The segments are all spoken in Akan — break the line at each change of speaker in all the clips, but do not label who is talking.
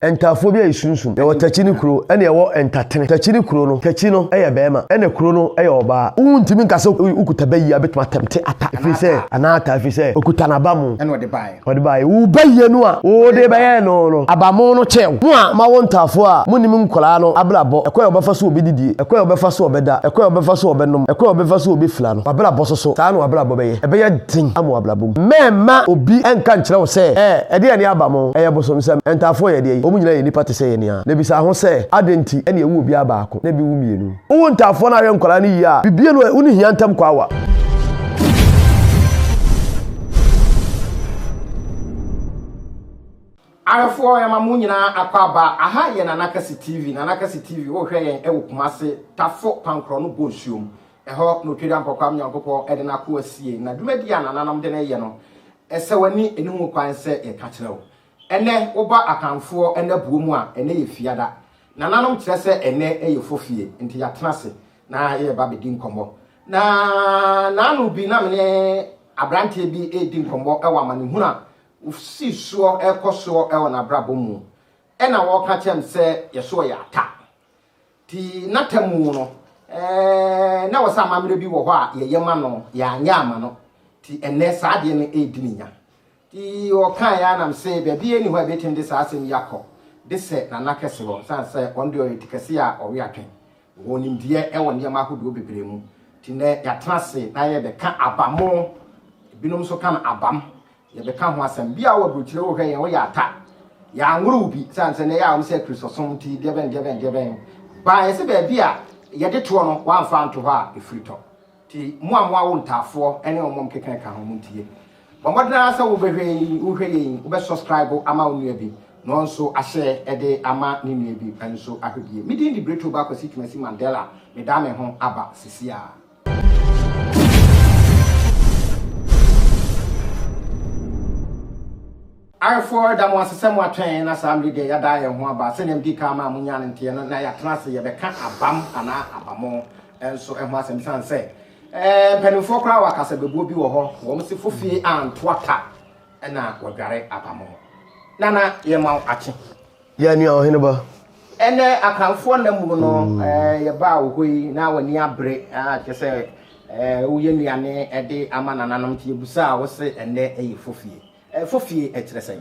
Ntaafoɔ bi a esunsum. Yɛwɔ Takyi ne kuro ɛna yɛwɔ Ntatene. Takyi ne kuro no, Takyi no yɛ bɛɛma ɛna kuro no yɛ ɔbaa. Wontumi nka sɛ wokuta bɛ yie a bɛtumi atɛmte ata ɛfiri sɛ anaa ataa ɛfiri sɛ okuta n'abamu ɛna ɔde baeɛ. Ɔde baeɛ.
Wo bɛ yie
no a wode bɛyɛɛ no no abamu no kyɛɛ wo. Mo a mo awo ntaafoɔ a monim nkwadaa no abrabɔ, ɛkwan a wɔbɛfa so wɔbɛdidie, ɛkwan a wɔbɛfa so wɔbɛda, ɛkwan a wɔbɛfa so wɔbɛnom, ɛkwan a wɔbɛfa so wɔbɛfira no, w'abrabɔ so so, saa na w'abrabɔ bɛyɛ. Ɛbɛyɛ den ama w'abrabɔ. abom. Mɛmma obi nka nkyerɛ wo sɛ, Ɛ, ɛdeɛn ne aba mo? Ɛyɛ bosomsɛm. Ɛntaafoɔ yɛ ɛdeɛn? Wɔn nyinaa yɛ nnipa te sɛ yɛn ara. Na bisa ho sɛ, Adɛn nti na ɛwu obiara baako, na ebi wu mmienu? Wowo ntaafoɔ na woyɛ nkwadaa no yie a, bibie no ɛ, wonni hia ntam kɔ awa.
Awefoɔ yɛma mo nyinaa akɔ aba aha yɛ Nana Kase TV Nana Kase TV wohwɛ yɛn ɛwɔ Kumase Tafo Pankorɔ no Bonsuom Ɛhɔ na Otweda Mpɔkwam Nyankopɔn de n'akoa sie, na dwumadi a nananom de no reyɛ no, sɛ w'ani nni ho kwan sɛ yɛka kyerɛ wo. Ɛnnɛ, woba Akanfoɔ nna buo mu a, ɛnnɛ yɛ Fiada. Nananom kyerɛ sɛ ɛnnɛ yɛ fofie, nti yɛatena ase na yɛreba abɛdi nkɔmmɔ. Na naano bi na me ne aberanteɛ bi redi nkɔmmɔ wɔ amanehunu a wɔsii soɔ rekɔ soɔ wɔ n'abrabɔ mu. Ɛna wɔreka kyerɛ me sɛ yɛso yɛ ata. Ti n'atemmu no, na wɔ sɛ amammerɛ bi wɔ hɔ a yɛyɛ ma no, yɛanyɛ ama no. Ti ɛnɛ saa adeɛ no ɛredi ne nya. Ti ɔkaa yɛ anam se baabi ɛni hɔ a ɛbɛtumi de saa asɛm yi akɔ de sɛ Nana Kɛse hɔ, sane sɛ ɔno deɛ ɔyɛ ti kɛse a ɔwe atwe. Ɔwɔ nimdeɛ ɛwɔ nneɛma ahodoɔ bebree mu. Ti nɛ yɛatena ase na yɛrebɛka abamo, ebinom nso ka no abam, Yɛbɛka ho asɛm biaa wɔ aburokyire wohwɛ yɛn woyɛ ata yɛanworo wo bi sane sɛ na ɛyɛ a wɔn sɛ akristosom nti deɛbɛn deɛbɛn deɛbɛn baa yɛse baabi a yɛde toɔ no woamfa anto hɔ a ɛfiri tɔ nti mo a mo awo ntaafoɔ ne wɔn mkeka ka ho montie bɔ mmɔdene ara sɛ wobɛhwɛ yi wohwɛ yɛ yi wobɛ subscribe ama wo nua bi na ɔnso ahyɛ ɛde ama ne nua bi nso ahwɛ bie medin de Bretto Ba Kwasi Twumasi Mandela medaa me ho aba sisi a. Ayefoɔ, ɛda mo ase sɛ moatwɛn yɛn na saa mmere deɛ yɛada yɛn ho aba. Sɛdeɛ medii kan maa monyaa no nteɛ no, na yɛatena ase yɛbɛka abam anaa abamo nso ho asɛm esiane sɛ eh, mpanimfoɔ koraa wɔ akasabebuo bi wɔ hɔ, wɔn se fofie antoa ta na wɔdware abamo. Nana, yɛma wo akye. Yɛ nea ɔhene
ba. Ɛnnɛ
Akanfoɔ nna mu no, yɛbaa wo hɔ yi na w'ani abere, kyerɛ sɛ woyɛ nnuane de ama nananom nti yɛbusaa wo se ɛnnɛ yɛ fofie. Fofie kyerɛ sɛn?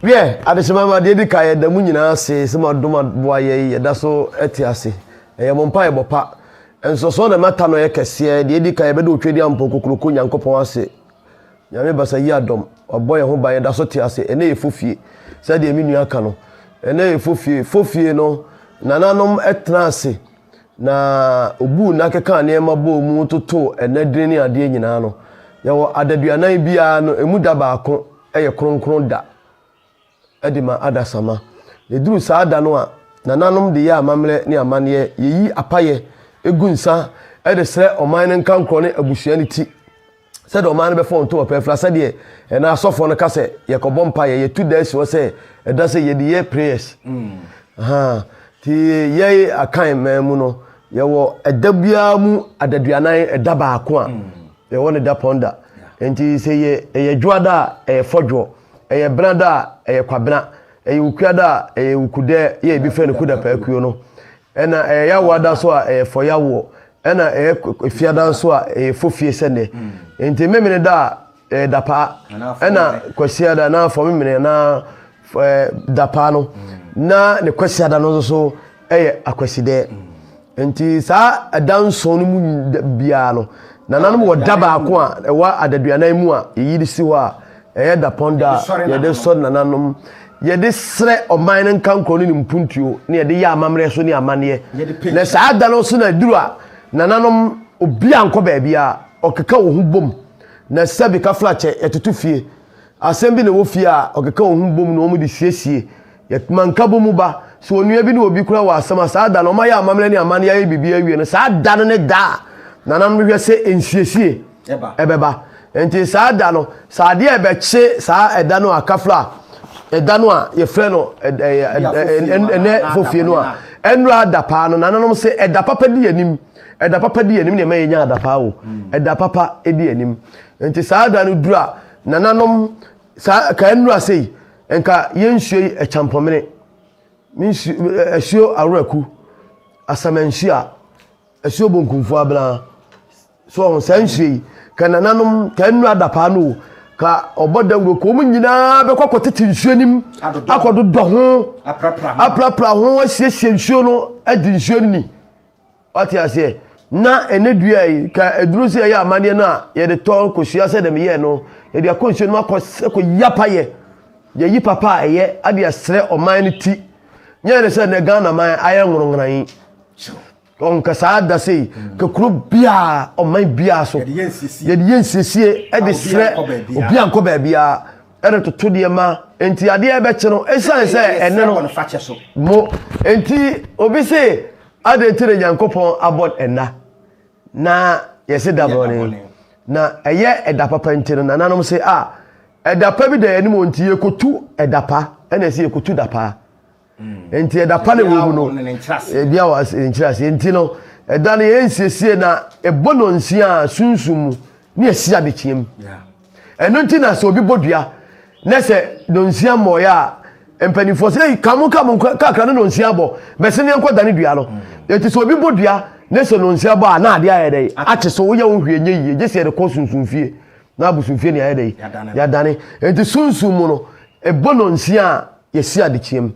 Wiɛ, adehyema ma deɛ di kan yɛda mu nyinaa ase sɛ mo adom aboa yɛ yi yɛda so te ase. Ɛyɛ mo mpa ɛbɔ pa. Nsɔsɔ na mata no yɛ kɛseɛ. Deɛ di kan yɛbɛda otwadi ampɔn kokuroko Nyankopɔn ase. Nyame basa yi adɔm, wabɔ yɛn ho ban yɛda so te ase, ɛnɛ yɛ fofie, sɛdeɛ me nua ka no, ɛnɛ yɛ fofie, fofie no nananom tena ase na obuu nna kekaa nneɛma bɔɔ mu totoo ɛnɛ dini ne adeɛ nyinaa no, yɛwɔ adaduanan biara no, ɛmu da baako yɛ kronkron da. de ma adasamma. Na ɛduru saa da no a nananom de yɛ amammerɛ ne amanneɛ, yɛyi apaeɛ gu nsa de srɛ ɔman no nkankorɔ ne abusua no ti, sɛdeɛ ɔman no bɛfa wɔn ntom ɔpɛɛfira, sɛdeɛ ɛnã asɔfoɔ no ka sɛ yɛkɔbɔ mpaeɛ, yɛtu da asi hɔ sɛ ɛda sɛ yɛde yɛ prayers. Ahaa. Nti yɛn Akan man mu no, yɛwɔ ɛda biara mu adaduanan ɛda baako a Yɛwɔ no dapɔn da. Nti sɛ yɛ ɛyɛ dwoa da a, ɛyɛ fɔdwoɔ. Ɛyɛ bena da a, ɛyɛ kwabena. Ɛyɛ wukua da a, ɛyɛ wukudɛ yɛ ebi frɛ no kudapaakuo no. Ɛna ɛyɛ yawoa da nso a, ɛyɛ fɔyawoɔ. Ɛna ɛyɛ efia da nso a, ɛyɛ fofie sɛ nnɛ. Nti memene da a, ɛyɛ dapaa. Ɛna kwasia da anaa fɔmemene anaa. dapaa no na ne kwasiada no nso yɛ akwasidɛ nti saa ɛda nson no mu biara no nananom wɔ da baako a ɛwɔ adaduanan mu a yɛyi de si hɔ a ɛyɛ dapɔn da a yɛde sɔre nananom yɛde srɛ ɔman no nka nkorɔ ne ne mpuntuo ne yɛde yɛ amammerɛ so ne amanneɛ na saa da no so na aduru a nananom obi ankɔ baabi a ɔkeka wɔ ho bom na sɛbi ka flakyɛ yɛtoto fie Asɛm bi na ɛwɔ fie a ɔkeka wɔn ho bom na wɔn de siesie. Yɛ ma nkabɔ mu ba. Sɛ onua bi ne obi kura wɔ asɛm a, saa da no wɔn ayɛ amammerɛ ne amanneɛ ayɛ biribiara awie no, saa da no ne da a nananom bɛhwɛ sɛ nsiesie bɛba. Enti saa da no, sɛ adeɛ a ɛbɛkye saa ɛda no a kafra a ɛda no a yɛfrɛ no ɛnɛ fofie no a ɛnura ada paa no, nananom sɛ ɛda papa di anim. Ɛda papa di anim na ɛma yɛnya ada paa o. Ɛda papa di anim. Enti saa da no duru a, Nananom, saa ɛkaa nnuru ase yi, nka yɛnsuo yi ɛkyampɔmene, ɛsuo aworaku, asamansuo, ɛsuo bonkumfo abena, so ɔho saa nsuo yi, ka nananom, ka nnuru adapaa no o, ka ɔbɔ dawuro, ka wɔn nyinaa bɛkɔ akɔtete nsuo nim, akɔdodɔ ho, aprapra ho, asiesie nsuo no, adi nsuo no ni. Wate aseɛ? Na ɛnnɛ dua yi, ka aduro sɛ yɛyɛ amadeɛ no a, yɛde tɔ kosua sɛdeɛ meyɛɛ no, yɛde akɔ nsuo no mu akɔ akɔ yapa yɛ, yɛyi papa a ɛyɛ ade ɛsrɛ ɔman no ti. Nyɛ ne sɛ nɛ Ghana man ayɛ nworonkran yi. Ɔn ka saa da sei, ka kuro biara, ɔman biara so, yɛde yɛ nsiesie ɛde srɛ obi a nkɔ baabiara, ɛde toto deɛ ma, enti adeɛ ɛbɛkye no, ɛsiane sɛ ɛnɛ no, mo, enti obi se, Adɛn nti na Nyankopɔn abɔ nna na yɛse da bɔne? Na ɛyɛ ɛda papa nti no, nananom se a ɛda pa bi da yɛn anim o, nti yɛkɔtu ɛda pa, ɛna ɛse yɛkɔtu da paa. Nti ɛda pa na ɛwɔ mu no, bia wɔ ne nkyerɛaseɛ. Nti no, ɛda no yɛnsiesie na ɛbɔ nɔnsia a sunsum mu ne asi adekyeɛ mu. Ɛno nti na sɛ obi bɔ dua na sɛ nonsia mmɔeɛ a mpanimfoɔ sɛ ei ka mo ka mo nkɔ kakra no nonsia abɔ bɛse neɛ nkɔ dane dua no ɛti sɛ obi bɔ dua na sɛ nonsia bɔ a na adeɛ ayɛ dɛn akye so woyɛ wo hwee nyɛ yie gye sɛ yɛde kɔ sunsumfie na abosomfie ne ayɛ dɛn yɛadane ɛnti sunsum mu no ɛbɔ nonsia a yɛsi adekyeɛ mu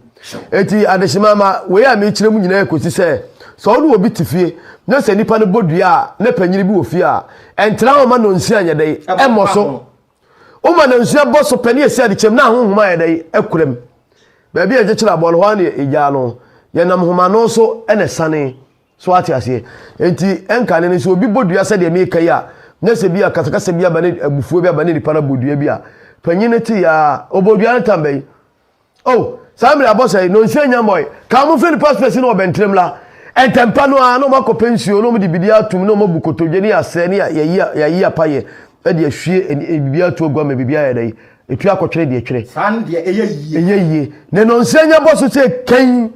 enti adehyema ma wei a mekyerɛ mu nyinaa kɔsi sɛ sɛ ɔne obi te fie na sɛ nipa no bɔ dua a ne panyini bi wɔ fie a ɛntra hɔ ma nɔnsia nyɛ dɛn ɛmmɔ so woma nɔnsia bɔ so pɛ ne yɛsi adekyɛm na ahohoma yɛ dɛn akura mu baabi a ɛkyekyere aboa no hɔ a na ɛgyaa no yɛnam homano so na ɛsane So wate aseɛ? Enti, ɛnkane no, sɛ obi bɔ dua sɛdeɛ meka yi a, na sɛ bi a kasakasa bi aba ne abufuo bi aba ne nipa no abɔ dua bi a, panyin no te yaa, ɔbɔ dua no tam bɛyi. Oh, saa mmerɛ abɔ sɛe, na ɔnsuo anya mmɔe. Ka wɔn mfiri nipa space no wɔ bɛntrem la. Ɛntɛmpa no ara, na wɔn akɔpɛ nsuo, na wɔn de biribi atum, na wɔn abu kotodwe, ne yɛasrɛ, ne yɛayi apa yɛ, ɛde ahwie biribi ato agua ma biribi ayɛ dɛn? Etu akɔtwere deɛ twere. Saa no deɛ ɛyɛ yie. Ɛyɛ yie. Na nonsuo anya bɔ so sɛ kɛn.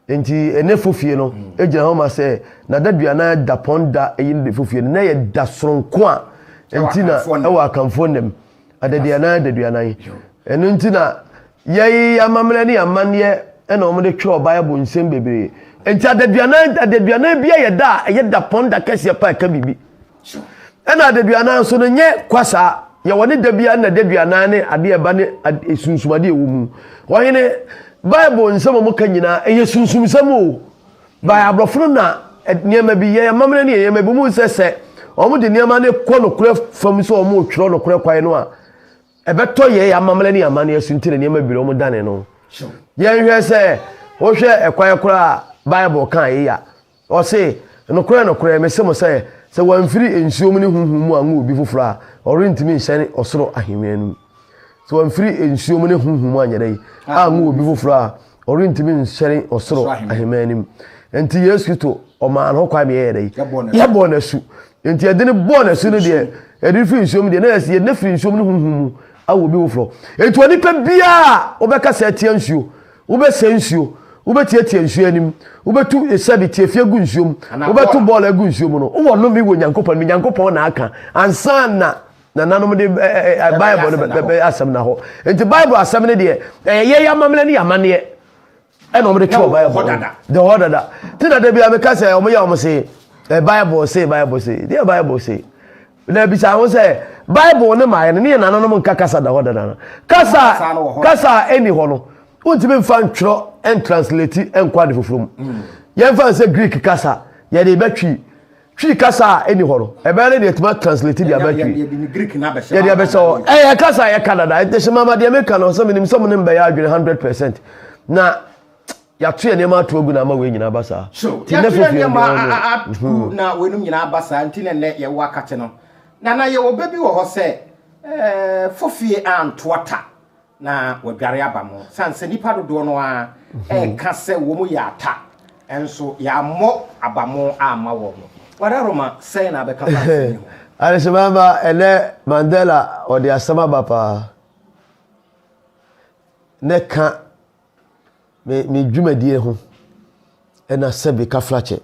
nti ɛnɛ fofie no gyina hɔ ma sɛ n'adaduana da pɔn da ɛyi no de fofie no na yɛ da soronko a nti na ɛwɔ akanfoɔ nam adaduana adaduana yi ɛno nti na yɛyi amammerɛ ne amanneɛ ɛna wɔn de twɛ ɔbaayɛbo nsɛm bebree nti adaduana adaduana bi yɛ da a ɛyɛ da pɔn da kɛseɛ pa ɛka biribi. Ɛna adaduanan nso no nyɛ kwa saa, yɛ wɔne da biara na daduanan ne ade a ɛba ne e, sunsumade ɛwɔ mu. Ɔhene, Bible nsɛm a wɔka nyinaa, ɛyɛ sunsumsɛm o. By aborɔfo no na nneɛma bi, yɛ amammerɛ ne yɛ nneɛma bi, wɔn sɛ sɛ wɔn de nneɛma no kɔ nokorɛ fam sɛ wɔn retwerɛ nokorɛ kwan no a, ɛbɛtɔ yɛ amammerɛ ne amanneɛ so nti na nneɛma bi na wɔn dane no. Yɛnhwɛ sɛ, wohwɛ ɛkwan koraa a Bible ka a yɛyɛ a, Ɔse, Nokorɛ, nokorɛ, mese mo sɛ, sɛ wɔamfiri nsuo mu ne honhom mu anwo obi foforɔ a, ɔrentumi nhyɛne ɔsoro ahennwa no mu. Sɛ wɔamfiri nsuo mu ne honhom mu anyɛ dɛn anwo obi foforɔ a, ɔrentumi nhyɛne ɔsoro ahemman no mu. Enti Yesu Kristo, ɔmaa no ho kwan ma yɛyɛɛ dɛn? Yɛbɔɔ no asu. Enti ɛde no bɔɔ no asu no deɛ, ɛde no firi nsuo mu deɛ, na yɛsi yɛde no afiri nsuo mu ne honhom mu awo obi foforɔ. Enti onipa biara a ɔbɛkasa atia nsuo, Wobɛsɛe nsuo, wobɛtiatia nsuo anim, wobɛtu sɛbe tiafi agu nsuo mu, wobɛto bɔɔl agu nsuo mu no, wowɔ nnome wɔ Nyankopɔn anim. Nyankopɔn na aka ansa na nananom de Bible no bɛbɛ asɛm na hɔ. Nti Bible asɛm no deɛ, ɛyɛ yɛ yɛ amammerɛ ne yɛ amanneɛ ɛna wɔde twerɛ Bible no. De hɔ dada. Ti na da bi a meka sɛ wɔyɛ wɔn se, Bible se, Bible se. Deɛ Bible se. Na ebisa ho sɛ, Bible no ma yɛne ne yɛn nananom nka kasa da hɔ dada no? Kasa a kasa a ɛnni hɔ no, wontumi mfa ntwerɛ ntransleti nkɔ ade foforɔ mu. Mm. Yɛmfa nsɛ Greek kasa, yɛde bɛtwi twi kasa a ɛni hɔ no ɛbɛyɛ ne deɛ ɛtumi atranslate deɛ abɛtwi yɛde abɛhyɛ hɔ ɛyɛ kasa a yɛka dada ɛhyɛ mama deɛ meka no sɛ menim sɛ mo ne mbɛyɛ adwene 100 percent na Yɛato yɛn nneɛma ato agu na ama wei nyinaa aba saa. So yɛato yɛn nneɛma
agu na weinom nyinaa aba saa nti na nnɛ yɛwɔ akate no? Na na yɛwɔ bɛ bi wɔ hɔ sɛ, Fofie anto ɔta na wadware aba mo. Ɛsiane sɛ nnipa dodoɔ no ara reka sɛ wɔyɛ ata nso, yɛammɔ aba mo amma wɔn. Wararoma, sɛn na bɛka fa asɛm yi ho? Adesamma mma,
ɛnnɛ Mandela ɔde asɛm aba paa. Nnɛ ka me me dwumadie ho ɛna sɛbi kaflakyɛ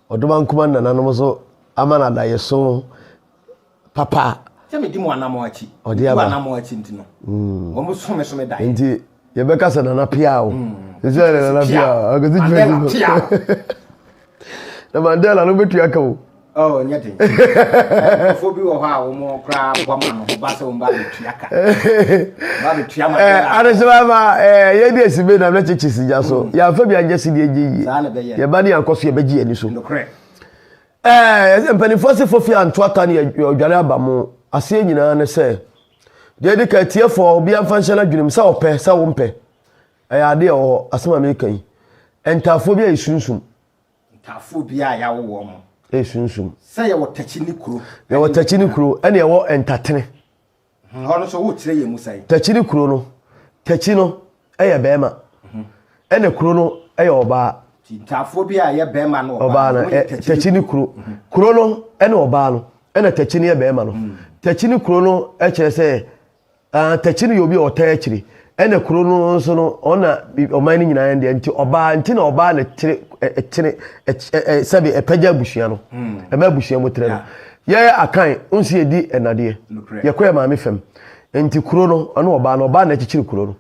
ɔdoma nkuma nananom so ama no adaeɛ so papa sɛ medi
mo anamɔ akyi ɔde aba anamɔ akyi
nti no
mm. wɔn so me so me daeɛ nti yɛbɛka
sɛ nana pia o ɛsɛ mm. nana pia o akɔsi dwumadie na mandela no bɛtua ka o Oh, nyɛ den
nkurɔfoɔ bi wɔ hɔ a wɔn koraa bɔ ma no ba sɛ wɔn ba bɛtua ka ba bɛtua ma eh, dɛla adesoma ma
eh, yɛde asi bɛ nam na kyekye sigya so mm. yɛamfa bi anyɛ sidi agye yie yɛba ne yɛankɔ so yɛbɛgye yɛni so eh, mpanimfoɔ se fofi anto ata ne ɔdwane aba mo aseɛ nyinaa ne sɛ deɛ de ka atiefoɔ obi amfa nhyɛ no adwenem sɛ ɔpɛ sɛ wompɛ Ɛyɛ ade a ɛwɔ hɔ. Asɛm a mereka yi, ntaafoɔ bi a ɛyɛ sunsum. Ntaafoɔ
bi a yɛawo wɔn. Ɛyɛ sunsum. Sɛ
yɛwɔ Takyi
ne kuro. Yɛwɔ Takyi ne kuro
ɛne ɛwɔ Ntatene. Hmm, hɔ no
nso wokyerɛ yɛn mu sɛn? Takyi ne kuro no,
Takyi no ɛyɛ bɛrima. Hmm. Ɛna kuro no ɛyɛ ɔbaa. Ntaafoɔ bi a
ɛyɛ bɛrima no ɔbaa no, eh, Takyi
ne kuro. Hmm. Kuro no ɛne ɔbaa no, ɛna Takyi no yɛ bɛrima no. Hmm. Takyi ne kuro no ɛkyerɛ sɛ Ah Takyi no yɛ obi a ɔtaa akyire ɛna kuro no nso no ɔna ɔman no nyinaa deɛ nti ɔbaa nti na ɔbaa na kyere ɛkyere ɛkyɛ sɛbi ɛpɛgya abusua no hmm. ɛma abusua mu tere no yɛ akan nso yɛ di ɛnadeɛ yɛ kɔ yɛ maame fam nti kuro no ɔno ɔbaa na ɔbaa na kyekyere kuro no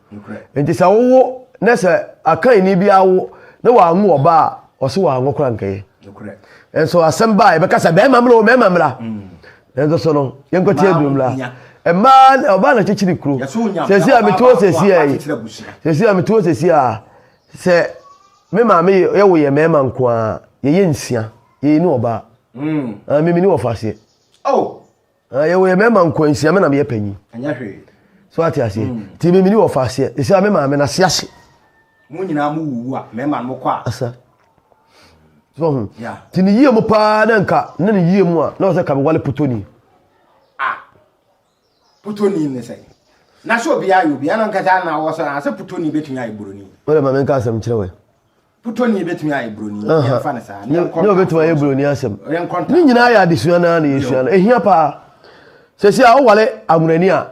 nti sɛ wowo na sɛ akan ni bi awo na wɔanwo ɔbaa ɔso wɔanwo kora nkɛyɛ nso asɛm baa yɛbɛka sɛ bɛrima mmra o bɛrima mmra hmm. Nanso so no, yɛnkɔte aduom la. Mmaa na ɔbaa na kyekyere kuro. Sɛsi a mete hɔ sɛsi a yi. Sɛsi a mete hɔ sɛsi a sɛ me maame yɛ wo yɛ mmarima nko a yɛyɛ nsia. Yɛyɛ ni ɔbaa. Mm. Ah, mimi ni wɔfa aseɛ. Oh. Ah, yɛ wo yɛ mmarima nko nsia me na meyɛ panyin. Ɛnyɛ hwee.
So ate aseɛ.
Mm. Ti mimi ni wɔfa aseɛ. Sɛsi a me maame na se ase. Mo nyinaa
mo wuwu a mmarima no kɔ a. Asa.
so ho nti ne yie mu paa na nka ne ne yie mu a na ɔsɛ ka mewale putoni a
putoni ne sɛ na sɛ obiara yɛ obiara na nkasa na wɔsɛ na sɛ putoni bɛtumi ayɛ buroni wode ma menka asɛm kyerɛ
wɛ putoni bɛtumi
ayɛ buroni yɛmfa no saa ne ɔbɛtumi ayɛ buroni
asɛm ne nyinaa yɛ adesua no a na yɛsua no ɛhia paa sɛsi a wowale aworani a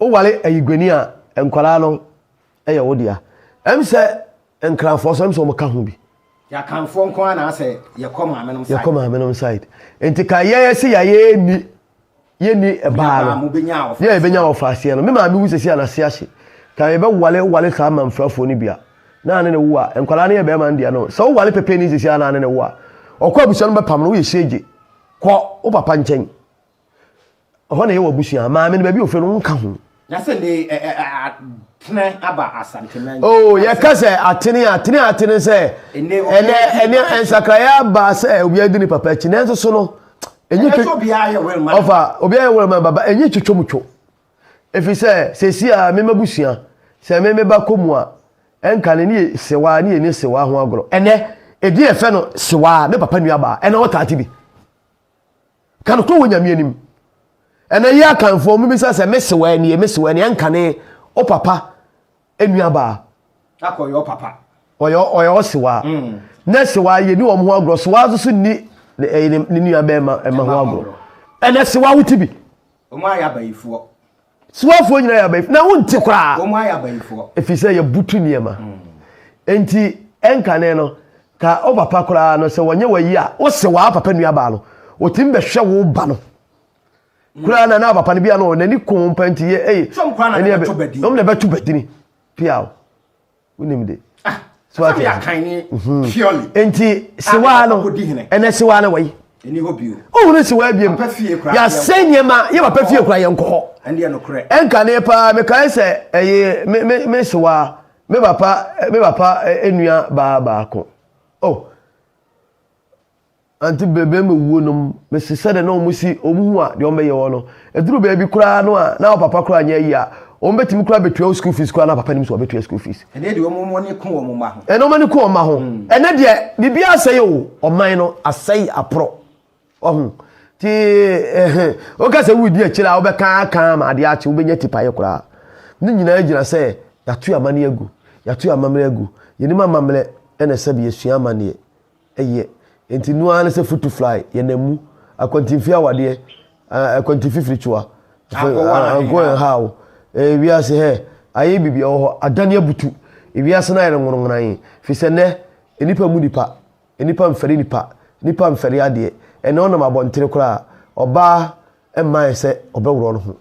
Woware ayiguani a, nkwadaa no yɛ wo dea. Ɛm sɛ Nkranfoɔ nso, ɛm sɛ wɔka ho bi. Y'akanfoɔ nko
ara na asɛ yɛkɔ maame nom side. Yɛkɔ maame nom side. Nti
ka yɛ yɛ se yɛ yɛ ni yɛ ni ɛbaa no. Yɛ yɛ bɛnya wɔfa aseɛ no. Me maame wu sɛsi a n'ase ahye. Ka yɛ bɛ wale wale saa manfrafoɔ no bi a. Na ane ne wo a. Nkwadaa no yɛ bɛɛma no dea no. Sɛ wo wale pɛpɛ ni sɛsi a na ane ne wo a. Ɔkɔ abusua no bɛpam no woyɛ hyɛgye. Kɔ wo papa nkyɛn. Ɛhɔ na ɛyɛ wɔ abusua. Maame no baabi a ofiri no nka ho. Na sɛ ne
ɛ ɛ atene aba asante na. Oo yɛka sɛ
atene a atene a atene sɛ ɛnɛ ɛnɛ nsakraeɛ aba sɛ obiara di ne papa akyi nanso so no ɛnyi twɛ
ɔfa obiara yɛ wɛrɛma
baba ɛnyi twitwa mu two ɛfiri sɛ sɛsi a mema busua sɛ me meba kɔ mu a ɛnka ne ne yɛ sewa ne yɛ ne sewa ho agorɔ ɛnɛ ɛdi ɛfɛ no sewa me papa nua baa ɛna ɔtaate bi. Ka nokorɛ wɔ Nyame anim. Ɛnɛ yɛ Akanfoɔ mo bisa sɛ me sewaa nie me sewaa nie ɛnkane o papa nua baa. Akɔ ɔyɛ ɔpapa.
Ɔyɛ ɔyɛ
ɔsewaa. Mm. Nɛ sewaa yɛ ni wɔn ho agorɔ sewaa nso so ni ɛyɛ ne nua bɛɛ ma ɛma ho agorɔ. Ɛnɛ sewaa wo ti bi. Wɔn ayɛ abayifoɔ.
Soafoɔ nyinaa
yɛ abayifoɔ, na wonte koraa, Wɔn ayɛ abayifoɔ.
ɛfiri sɛ yɛbutu
nneɛma. Enti ɛnkane no, ka wo papa koraa no, sɛ wɔnyɛ w'ayi a, wose w'aa papa nuabaa no, wɔtumi bɛhwɛ wo ba no koraa na na papa no bia no, n'ani ko wo mpa nti yɛ ei, Sɛ wɔn koraa na ɛneɛ bɛbɛto bɛ din. wɔn na ɛbɛto bɛ dini, piaw. wonim de ah, so ate
mhm. purely enti sewaa
no ɛnɛ sewaa no wɔyi wohunu
sewaa biam
yɛasɛe nneɛma yɛ papa fie kora yɛnkɔ hɔ ɛnka
ne paa mekae
sɛ ɛyɛ me sewaa me papa me papa nnua baa baako oh Ante bɛbɛn me wuo nom me se sɛdeɛ na wɔn si wɔn hu a deɛ wɔn bɛyɛ wɔn no ɛduru baabi koraa no a na wo papa koraa nyɛ ayie a wɔn bɛtumi koraa bɛtua wo school fees koraa na papa nim sɛ ɔbɛtua school fees. Ɛnɛ deɛ wɔn ani ko
wɔn mma ho. Ɛnɛ wɔn ani ko wɔn mma ho.
Ɛnɛ deɛ biribiara asɛe o ɔman no asɛe aporɔ wahu ti ɛhɛn woka sɛ wudi akyire a wobɛka aka ama adeɛ akye wobɛnya tipaeɛ koraa ne nyinaa gyina sɛ yɛato amaneɛ agu yɛato amammerɛ agu yɛnim amammerɛ ɛna sɛ bi yɛsua amaneɛ yɛ. Enti no ara ne sɛ futu fly yɛ na mu, akwantinfi awadeɛ, ah, akwantinfi firikyiwa, anko and how, eh, wiase hɛ, ayɛ bibi ɛwɔ hɔ, adane abutu, ewiase no ayɛ no nwononwonan, firi sɛ nɛ, nnipa mu nipa, nnipa mfɛre nipa, nnipa mfɛre adeɛ, ɛnɛ ɔnam abɔntene koraa, ɔbaa, mmae sɛ ɔbɛworɔw no ho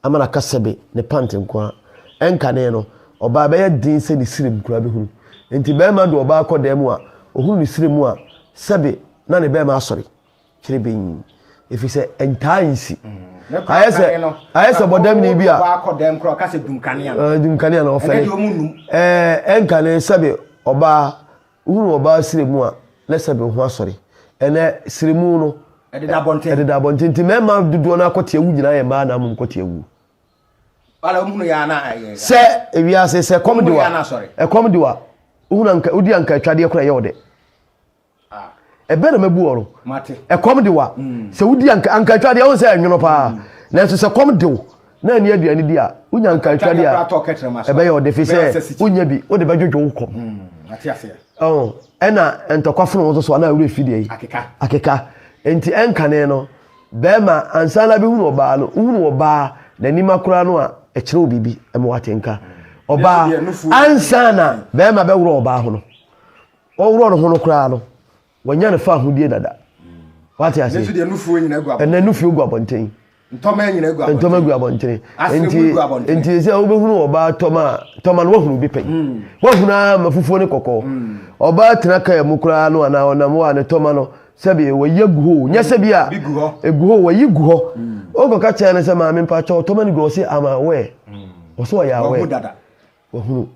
ama no aka sɛbe ne pant nko ara. Ɛnkanee no, ɔbaa ɛbɛyɛ den sɛ ne srem koraa bɛhunu. Enti barima de ɔbaa kɔ dan mu a ɔhunu ne srem mu a, sɛbe na ne barima asɔre kyerebenn, ɛfiri sɛ ɛntaa nsi. Ayɛ sɛ ayɛ sɛ bɔdamni bi a
dum kanea
na ɔfɛre. Ɛnkanee sɛbe ɔbaa Wohunu ɔbaa srɛ mu a, na ɛsɛ sɛ ɔde ne ho asɔre. Ɛnnɛ, srɛ mu no. Ɛdeda abɔnten. Ɛdeda abɔnten. Nti mmarima dodoɔ no ara kɔte awu nyinaa yɛ mmaa na mmom kɔte awu. Bala
wɔn hunu yɛ a na ɛyɛ. Sɛ ewiase
sɛ ɛkɔm de wa. Ɛkɔm de wa. Wohunu anka wodi anka atwadeɛ kora ɛyɛ ɔdɛ. Ɛbɛ na mabu ɔno. Ɛkɔm de
wa.
Sɛ wodi anka anka atwadeɛ wɔn sɛ ɛnwono paa. Nanso sɛ kɔm de wo. na ɛne aduane di a, wonya nkaetwadeɛ a, ɛbɛyɛ wo de fi sɛ wonya bi, wode bɛdwodwo wo kɔm.
Hmm, ɛna
ntɔkwa fono wo so so anaa werɛ fi deɛ yi akeka. Enti ɛnkane no, bɛrima ansa na bɛhunu ɔbaa no, wohunu ɔbaa n'anim akora no a, ɛkyerɛ wo biribi, ɛma watenka. Hmm. Ɔbaa ansa na bɛrima bɛworɔ ɔbaa ho no, ɔworɔ no ho no koraa no, Wɔnya no fa ahodie dada. Wate ase? Ɛnɛ deɛ nufuo nyina gu abɔnten.
Ɛnɛ nufuo gu abɔnten.
Ntɔma nyina gu
abɔnten. Ntɔma gu abɔnten. Asene
gu abɔnten. Nti sɛ wobɛhunu ɔbaa tɔma a, tɔma no wahunu bi pɛn. Hmm. Wahunu ara ma fufuo ne kɔkɔɔ. Hmm. Ɔbaa tena kaa mu koraa no anaa ɔnam hɔ a ne tɔma no sɛbi wɔyi agu hɔ o. Nyɛ hmm. sɛbi a ɛgu hɔ wɔyi gu hɔ. Wokɔka kyerɛ no sɛ maame mpakyɛ ɔtɔma no gu hɔ sɛ ama awɛ. Ɔsɛ ɔyɛ awɛ. Wahunu.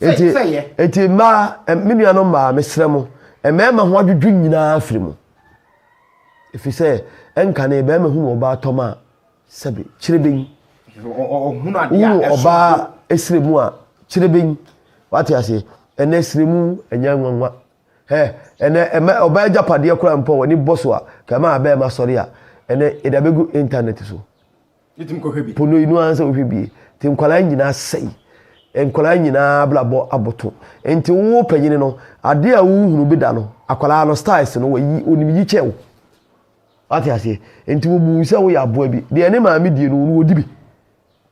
Eti, eti mmaa, me nuanom mmaa, mesrɛ mo, mmarima ho adwudwo nyinaa firi mu. Ɛfiri sɛ, ɛnkane barima hunu ɔbaa tɔm a, sɛbe, kyirebenyi.
Wohunu ɔbaa esire
mu a, kyirebenyi. Wate aseɛ? Ɛnɛ esire mu ɛnyɛ nwanwa. Hɛ, ɛnɛ ɛma ɔbaa agyapadeɛ koraa mpo a w'ani bɔ so a, kɛma a barima sɔre a, ɛnɛ yɛde abɛgu intanɛt so.
Po no enu ara sɛ wohwɛ bi.
Nti nkwadaa nyinaa sɛe. Nkwadaa nyinaa abrabɔ aboto. Nti wo panyin no, adeɛ a wohunu bi da no, akwadaa no styles no, wayi, onim yi kyɛn wo. Wate aseɛ? Nti wobu wo sɛ woyɛ aboa bi. Deɛ ne maame die no, ɔno ɔdi bi.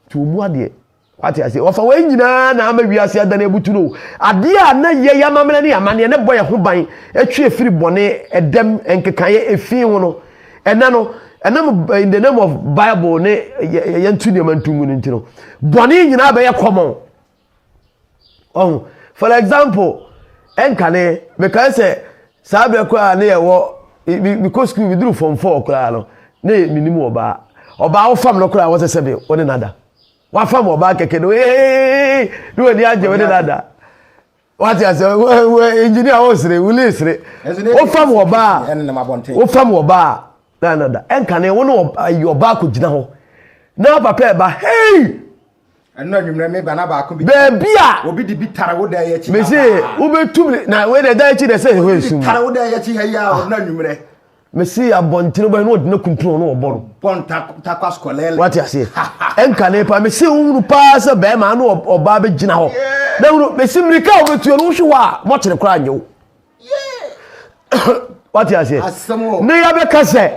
Nti wɔmmu adeɛ. Wate aseɛ? Wɔfa wei nyinaa na ama wiase adane abutu no. Adeɛ a na yɛ yɛ amammerɛ ne amanneɛ ne bɔ yɛ ho ban ɛtwe ɛfiri bɔne, ɛdɛm, nkekaeɛ, ɛfii ho no. Ɛnɛ no, ɛnam in the name of Bible ne yɛ nto nneɛma nto ngu no nti no, bɔne nyinaa bɛyɛ common. Ɔho, for example, ɛnkane, mekae sɛ saa berɛ koraa ne yɛwɔ, mekɔ school, meduru form 4 koraa no, ne menim ɔbaa. Ɔbaa wofam no koraa wɔsɛ sɛ me, wo ne nada. wafam ɔbaa kɛkɛ no ee ne wani agye wo ne no ada wate asɛ engineer a wosere wuli sere wofam ɔbaa wofam ɔbaa na no da ɛnkane wo ne ɔbaa kɔ gyina hɔ na papa ɛba hei
ɛno anwummerɛ me ba na baako bi baabi a obi de bi
tare wo
dan akyi mese wobɛtum
na wei na ɛdan akyi na ɛsɛ hɔ ɛsum tare wo dan akyi ha yi a
ɔno anwummerɛ mesi
abɔntene bɔ yi na ɔde no kuntun na ɔbɔ no. bɔ ntakwa
sukɔlɛlɛ. wate aseɛ
ɛnkane paa mesi wohunu paa sɛ bɛrima ano ɔbaa bɛgyina hɔ na hunu mesi mmirika a wɔbɛtuo no wohwe hɔ a mɔkyene koraa nyɛ wo wate aseɛ ne yɛbɛka sɛ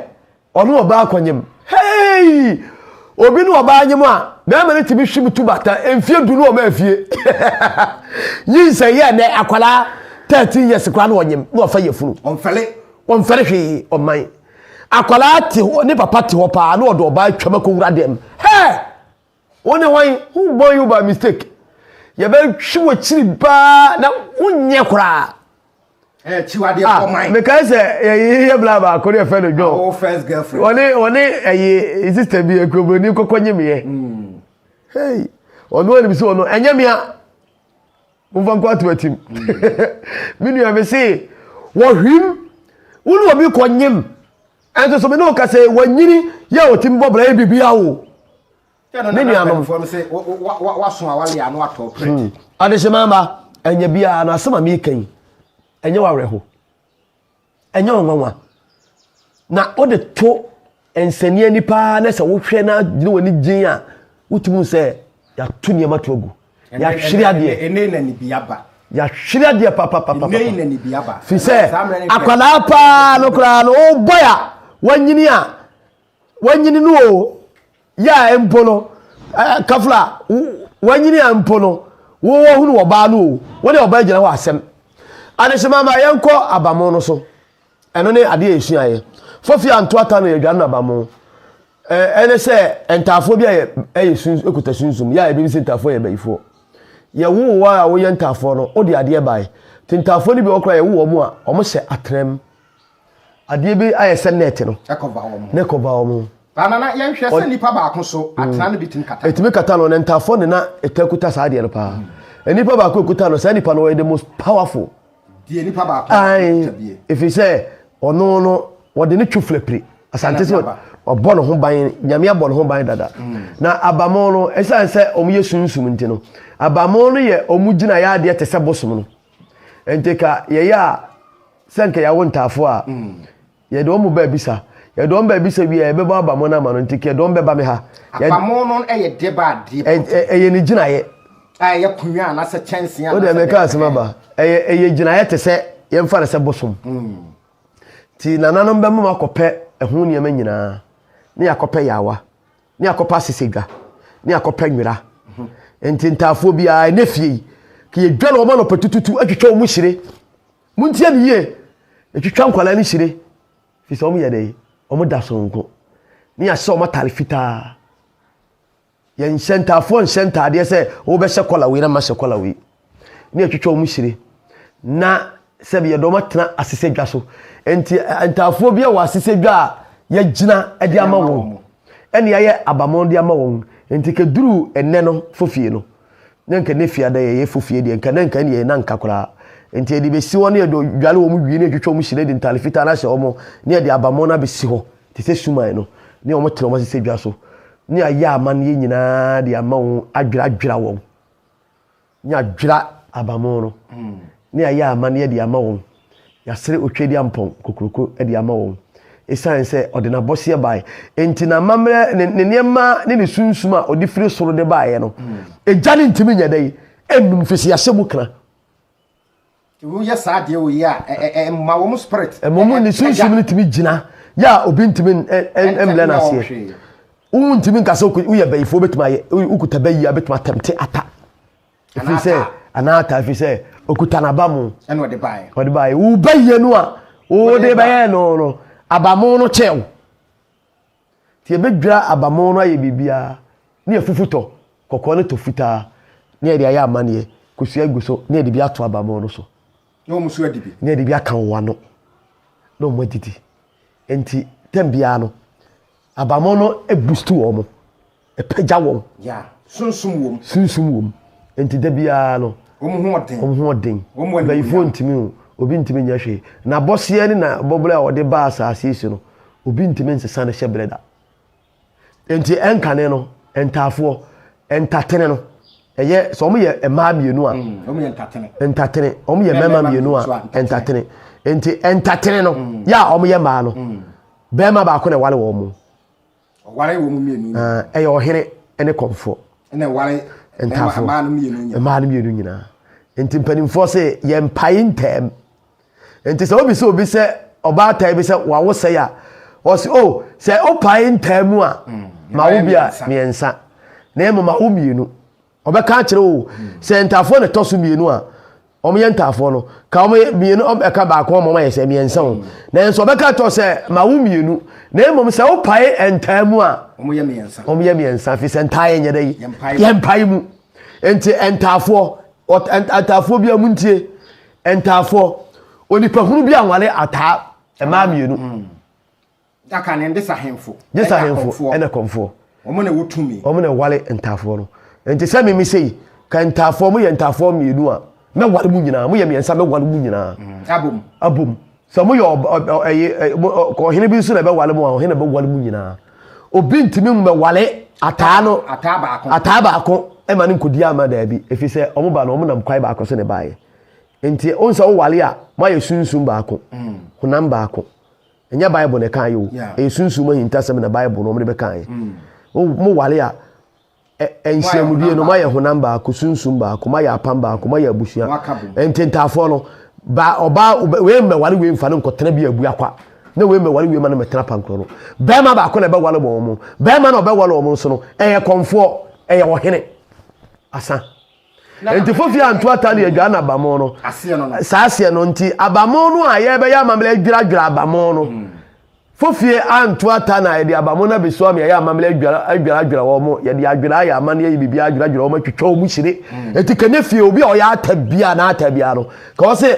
ɔno ɔbaa akɔnyem hei obi ne ɔbaa nyem a bɛrima no tumi hwe mu tu bata mfie du no ɔma afie nyinsɛ yɛ nɛ akwadaa 13 years koraa na ɔnyem na ɔfa yɛ funu ɔmfɛle Ɔmfɛre hwee ɔman. Akwadaa te hɔ, ne papa te hɔ paa na ɔde ɔbaa atwam akɔwura dɛm. Hɛɛ! Wo ne hwan? Who born you by mistake? Yɛbɛhwe w'akyiri paa na wonyɛ koraa. Eh,
Chiwade Ah, kɔ man. mekae sɛ yɛyi
yɛ bla baako ne yɛfɛ no John. Awo first girlfriend. Ɔne
ɔne ɛyi
sister bi akuroburoni kɔkɔ nye meɛ. Hey, ɔno anim sɛ ɔno ɛnyɛ mea. momfa nkɔ ato atim me nua me se wɔhwim wo ne obi kɔnyem ɛnso so me ne ɔka sɛ wanyini yɛ ɔtim bɔ bra yɛ biribia wo me nuanom hmm.
adehyema ma
ɛnyɛ biara no asɛm a meka yi ɛnyɛ wawerɛho Ɛnyɛ wo nwanwa. Na wode to nsɛnni ani paa na sɛ wohwɛ na ne w'ani gyen a wotumi sɛ yɛato nneɛma to agu. Yɛahwere adeɛ. Ɛnɛ na nibi aba.
Yɛahwere adeɛ
papapapa. Ɛnɛ na nibi aba.
Firi
sɛ akwadaa paa no
koraa
no wobɔ
a
wanyini a Wanyini no o, yɛ a mpo no, kafla, wanyini a mpo no, wo wɔhunu wɔbaa no o, wo ne wɔbaa gyina hɔ asɛm. Adehyema ma yɛnkɔ abamo no so. Ɛno ne adeɛ a yɛsuaeɛ. Fofia Antoata no yɛdwane no abamo. Ɛne sɛ ntaafoɔ bi a ɛyɛ sun ɛkuta sunsum, yɛ a yɛbɛbi sɛ ntaafoɔ yɛ bayifoɔ. Yɛwoo wo a woyɛ ntaafoɔ no, wode adeɛ bae. Nti ntaafoɔ no bi wɔ koraa yɛwo wɔn a, wɔhyɛ atrɛm. adeɛ bi ayɛ sɛ net no ne kɔva wɔn ne kɔva wɔn banana yɛnhwɛ sɛ
nipa baako so mm. atena no bitumi kata ɛtumi kata no ne ntafoɔ
ne na ɛta kuta saa adeɛ no paa mm. nipa baako kuta no saa nipa no wɔyɛ the most powerful deɛ nipa
baako ɛfiri ɛfiri sɛ
ɔno no wɔde ne twu flapiri asante sɛ ɔbɔ ne ho ban nyame abɔ ne ho ban dada mm. na abamo no ɛsiane sɛ ɔmo yɛ sunsum nti no abamo no yɛ ɔmo gyina yɛ adeɛ te sɛ bosom no nti ka yɛyɛ a sɛ nka yɛawo ntaafoɔ a, yɛde wɔn ba abisa. Yɛde wɔn ba abisa wie a, yɛbɛbɔ abamo no ama no. Nti yɛde wɔn bɛba me ha. Abamo no yɛ
deɛ ba adeɛ pɔtee. Ɛyɛ ne
gyinaeɛ. A ɛyɛ konwa
anaasɛ kyɛnsee anaasɛ. O deɛ mɛka asɛm aba.
Ɛyɛ ɛyɛ gyinaeɛ te sɛ yɛmfa no sɛ bosom. Nti hmm. nananom bɛma mo akɔpɛ ɛho nneɛma nyinaa ne yɛakɔpɛ yaawa ne yɛakɔpɛ asesedwa ne yɛakɔpɛ nwera. Hmm. Nti ntaafoɔ biara ɛnɛ fie yi ka yɛdwa na wɔn anɔpɛ tututu atwitwa wɔn hyire. Montie me yie, ɛtwitwa nkwadaa no hyire, firi sɛ wɔyɛ dɛn? Wɔda sononko, ne yɛahyɛ wɔn atare fitaa. Yɛnhyɛ ntaafoɔ nhyɛ ntaadeɛ sɛ wobɛhyɛ kɔla wei na mahyɛ kɔla wei, ne yɛtwitwa wɔn hyire, na sɛbi yɛde wɔn atena asesɛ dwa so. Nti ntaafoɔ bi wɔ asesɛ dwa a yɛgyina de ama wɔn, ɛne yɛayɛ abamɔn de ama wɔn. Nti kɛduru ɛnɛ no fofie no, Na nka ne fie ada yɛ yɛfo fie deɛ, nka na nka ɛne yɛ na nka koraa. Enti yɛde bɛsi hɔ na yɛde dware wɔn wie na yɛtwitwa wɔn hyire de ntade fitaa no ahyɛ wɔn na yɛde abamɔ no abɛsi hɔ te sɛ suman no ne wɔn tena wɔn asesɛ dwa so ne ayɛ amanneɛ nyinaa de ama wɔn adwera adwera wɔn ne adwera abamɔ no ne ayɛ amanneɛ de ama wɔn. Yɛasere Otwedeampɔn kokuroko de ama wɔn. Esiane sɛ ɔde n'abɔseɛ bae enti n'amammerɛ ne ne nneɛma ne ne sunsum a ɔde firi soro de baeɛ no, egya no ntumi nyɛ dɛn? Ɛnnum firi sɛ yɛahyɛ mu kena.
Woyɛ saa adeɛ wei a, ɛma wɔn spirit. Ɛma wɔn ne sunsum no
tumi gyina yɛ a obi ntumi mmlɛ no aseɛ. Wontumi nka sɛ woyɛ bayifoɔ bɛtumi ayɛ, wokuta bayi a bɛtumi atɛmte ata. ɛfiri sɛ anaa ata ɛfiri sɛ okuta n'abamu ɛna ɔde baeɛ ɔde
baeɛ woba
yie no a wode bɛyɛ no no abamu no kyɛw nti yɛbɛdwira abamu no ayɛ biribiara ne yɛfufu tɔ kɔkɔɔ ne tɔ fitaa ne yɛde ayɛ amaneɛ kosua gu so ne yɛde bi ato abamu no so na wɔn nso adi
bi ne yɛde bi aka wɔn ano
na wɔn adidi nti tɛm biara no Abamɔ no boost wɔn, ɛpagya wɔn. Yeah, sunsum
wɔm. Sunsum wɔm.
Nti da biara no. Wɔn ho ɔden. Wɔn ho ɔden. Wɔn mu animuonyam. Bɛyifoɔ ntumi o, obi ntumi nyɛ hwee. Na bɔseɛ ne na bɔbrɛ a wɔde ba asaase so no, obi ntumi nsesa ne hyɛ brɛ da. Nti ɛnkane no, ntaafoɔ, ntatene no, ɛyɛ sɛ wɔn yɛ mmaa mmienu a. Mm, wɔn yɛ ntatene.
Ntatene, wɔn
yɛ mmarima mmienu a, ntatene. Nti ntatene no, mm. yɛ a wɔn yɛ mmaa no. Mm. Barima baako na ɛware wɔn mo. Ɔware wɔn
mmienu nyinaa. Ah, ɛyɛ ɔhene
ne kɔmfoɔ. Ɛna ɛware
ntaafoɔ mmaa no
mmienu nyinaa. Mmaa
no mmienu nyinaa.
Nti mpanimfoɔ sɛ yɛn mpae ntɛm. Nti sɛ obi sɛ obi sɛ ɔbaatan bi sɛ wawo sɛ ya ɔsi o oh, sɛ ɔpae ntɛm mu a mm, ma wo bi a mmiɛnsa na ɛmu ma wo mmienu. Ɔbɛka akyerɛ wo sɛ ntaafoɔ na ɛtɔ so mmienu a wɔyɛ ntaafoɔ no ka wɔn mmienu ɛka baako ama wɔn ayɛ sɛ mmiɛnsa o nanso ɔbɛka kyerɛ sɛ ma wo mmienu na mmom sɛ wopae ntaa mu a wɔyɛ mmiɛnsa wɔyɛ
mmiɛnsa
fi sɛ ntaa yɛ nyɛ dɛ yi yɛ mpae mu nti ntaafoɔ ntaafoɔ bi a mu ntie ntaafoɔ onipahunu bi anwale ataa mmaa mmienu. Mm. Da
ka ne de sahemfo. Gye sahemfo ɛna
kɔmfoɔ. Wɔn na ɛwɔ tumi.
Wɔn na ɛwale ntaafoɔ
no. Nti sɛ mimi sei, ka ntaafoɔ mo yɛ ntaafoɔ mmienu a, mɛwale mo nyinaa. Mo yɛ mmiɛnsa mɛwale mo nyinaa. Mm, abom. Abom. Sɛ mo yɛ ɔhene bi nso na ɛbɛwale mo a, ɔhene bɛwale mo nyinaa. Obi ntumi mmɛwale ataa no. Ataa baako. Ataa baako ɛma no nkɔdi ama daabi. Ɛfiri sɛ wɔn ba no wɔn nam kwae baako so na ɛbaeɛ. Nti wɔn sɛ wowale a, moayɛ sunsum baako, mm. honam baako. Ɛnyɛ Bible na ɛkaeɛ o. Ɛyɛ sunsum ahintasɛm na Bible no wɔn de bɛkaeɛ. Mm. Mo wale a nhyiamudie no moayɛ honam baako, sunsum baako, moayɛ apam baako, moayɛ abusua. Ntentaafoɔ no ba ɔbaa wei mmɛwale wei mfa no nkɔtena bi abua kwa na wei mmɛwale wei ma no mmɛtena pankorɔ no. Bɛrima baako na ɛbɛwale bɔ wɔn. Bɛrima na ɔbɛwale wɔn nso no ɛyɛ kɔmfoɔ, ɛyɛ ɔhene. Asa. Nti fofi anto atali adwa na abamo no. Saa aseɛ no nti abamo no a yɛbɛyɛ amammerɛ adwiradwira abamo no. Hmm. Fofie anto ata na yɛde abamo no abɛsi wɔn yɛyɛ amammerɛ adwiradwira wɔn yɛde adwira ayɛ amanneɛ yi biribi adwiradwira wɔn atwitwa wɔn hyire. Hmm. Nti kɛnyɛ fie obi a ɔyɛ ata bia na ata bia no ka ɔsɛ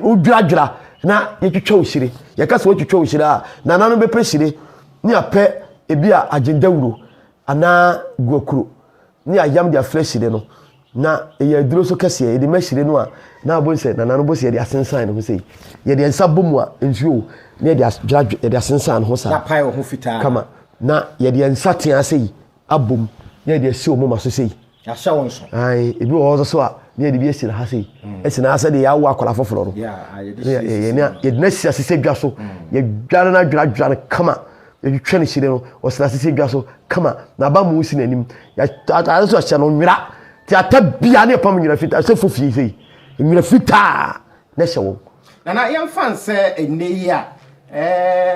wodwiradwira na yɛtwitwa wo hyire. Yɛka sɛ wɔtwitwa wo hyire a nana no bɛpɛ hyire ne apɛ ebi a agyendawuro anaa guakuro ne ayam de afra hyire no, na ɛyɛ aduro nso kɛseɛ, yɛde ma hyire no a, na abom sɛ nana no bɔ sɛ yɛde asensan ne ho sei, yɛde yɛn nsa bɔ mu a, nsuo na yɛde adwira adwira, yɛde asensan ne ho saa, N'apae wɔ ho fitaa. kama,
na
yɛde yɛn nsa teaa sei abom na yɛde asi wɔn moma so sei. Yɛahyɛ wɔn so.
Ae, ebi wɔ hɔ nso so
a, na yɛde bi asi na ha sei, asi na ha sɛdeɛ yɛawo akwadaa foforɔ no, Yeah, ah, yɛde na yɛ- si yɛ- yɛn asisi a, yɛde no asi ase sɛ dwa so, yɛdware no adwira adwira no kama, Yɛtwitwa ne hyire no, ɔsena ase sɛ dwa so kama, n'abamu si n'anim. Atade nso ɔhyɛ no nwera, te ata bia ne ɛpam nwera fitaa, sɛ fofie sɛ yi, nwera fitaa na ɛhyɛ wɔn. Nana, yɛmfa no
sɛ ɛnnɛ yi a